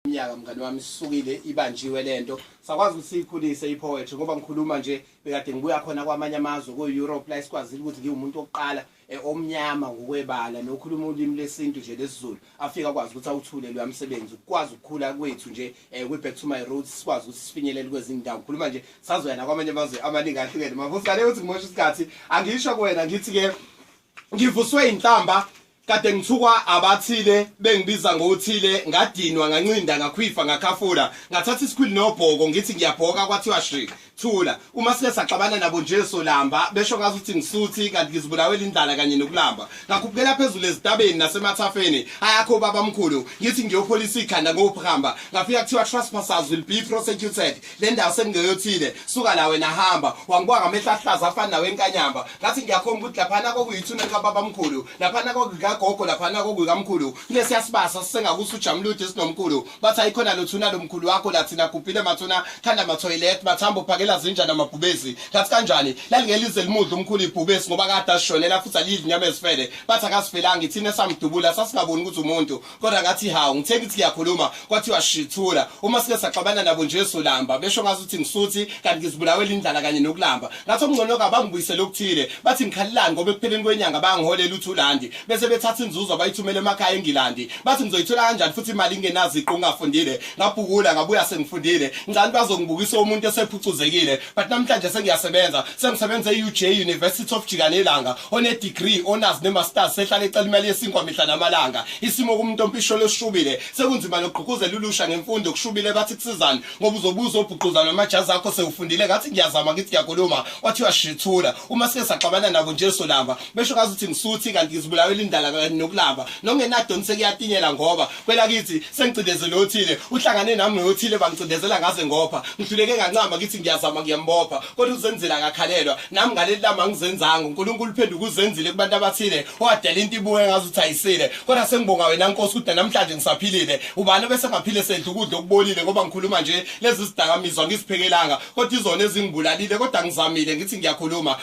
umnyaka mngane wami sisukile ibanjiwe lento sakwazi ukuthi siyikhulise ipoetry ngoba ngikhuluma nje bekade ngibuya khona kwamanye amazwe ku-europe la esikwazile ukuthi ngiwumuntu wokuqala eh, omnyama ngokwebala nokhuluma ulimi lesintu nje lesizulu afike akwazi ukuthi awuthule loya msebenzi ukwazi ukukhula kwethu nje um kwi-back to my roads sikwazi ukuthi sifinyelele kwezinye indawo ngikhuluma nje sazoya nakwamanye amazwe amaningi ahlukene mavusane ukuthi ngimosha isikhathi angisho kuwena ngithi-ke ngivuswe inhlamba Kade ngithukwa abathile bengibiza ngothile ngadinwa ngancinda ngakhwifa ngakhafula ngathatha isikhwili nobhoko ngithi ngiyabhoka kwathiwa shi thula uma sike saxabana nabo nje solamba besho ngazi ukuthi ngisuthi kanti ngizibulawela indlala kanye nokulamba ngakhuphukela phezulu ezitabeni nasemathafeni ayakho baba mkhulu ngithi ngiyopholisa ikhanda ngophamba ngafika kuthiwa trespassers will be prosecuted le ndawo sengingeyothile suka la wena hamba wangibuka ngamehla ahlaza afana nawe enkanyamba ngathi ngiyakhomba ukuthi laphana kokuyithuna likababa mkhulu laphana kokukagogo laphana kokukamkhulu kunesiyasibasa sisengakuthi ujamulude sinomkhulu bathi ayikhona lothuna lomkhulu wakho lathina gubhile mathuna khanda mathoyilet mathambo phakela zinja namabhubesi ngathi kanjani lalingelize limudla umkhulu ibhubesi ngoba kade ashonela futhi alidla inyama ezifele bathi akasifelanga ithina esamdubula sasingaboni ukuthi umuntu kodwa ngathi hawu ngithe ngithi ngiyakhuluma kwathiwa shithula uma sike saxabana nabo nje solamba besho ngathi uthi ngisuthi kanti ngizibulawela indlala kanye nokulamba ngathi okungcono kabangibuyisele okuthile bathi ngikhalelani ngoba ekupheleni kwenyanga bangiholela uthulandi bese bethatha inzuzo bayithumele emakhaya engilandi bathi ngizoyithola kanjani futhi imali ingenaziqu ngingafundile ngabhukula ngabuya sengifundile ngicani bazongibukisa umuntu esephucuzekile but namhlanje sengiyasebenza sengisebenza e-uj university of jikanelanga onedegree onazi nemasters sehlala ecela imali yesinkwa mihla namalanga isimo kumuntu ompisholo esishubile sekunzima nokugqugquzela ulusha ngemfundo kushubile bathi kusizani ngoba uzobuza obhuquzana amajazi akho sewufundile ngathi ngiyazama ngithi ngiyakhuluma wathi uyashithula uma sike saxabana nabo nje solamba besho ngazi ukuthi ngisuthi kanti ngizibulawela indala nokulamba nokungenadoni sekuyatinyela ngoba kwelakithi sengicindezele othile uhlangane nami noyothile bangicindezela ngaze ngopha ngihluleke ngancama kithi ngiyazama ngiyambopha kodwa uzenzela akakhalelwa nami ngaleli lama ngizenzanga uNkulunkulu uphenduka uzenzile kubantu abathile owadela into ibuye ngazi ukuthi ayisile kodwa sengibonga wena Nkosi ukuthi namhlanje ngisaphilile ubani bese ngaphile sedla ukudla okubolile ngoba ngikhuluma nje lezi zidakamizwa ngiziphekelanga kodwa izona ezingibulalile kodwa ngizamile ngithi ngiyakhuluma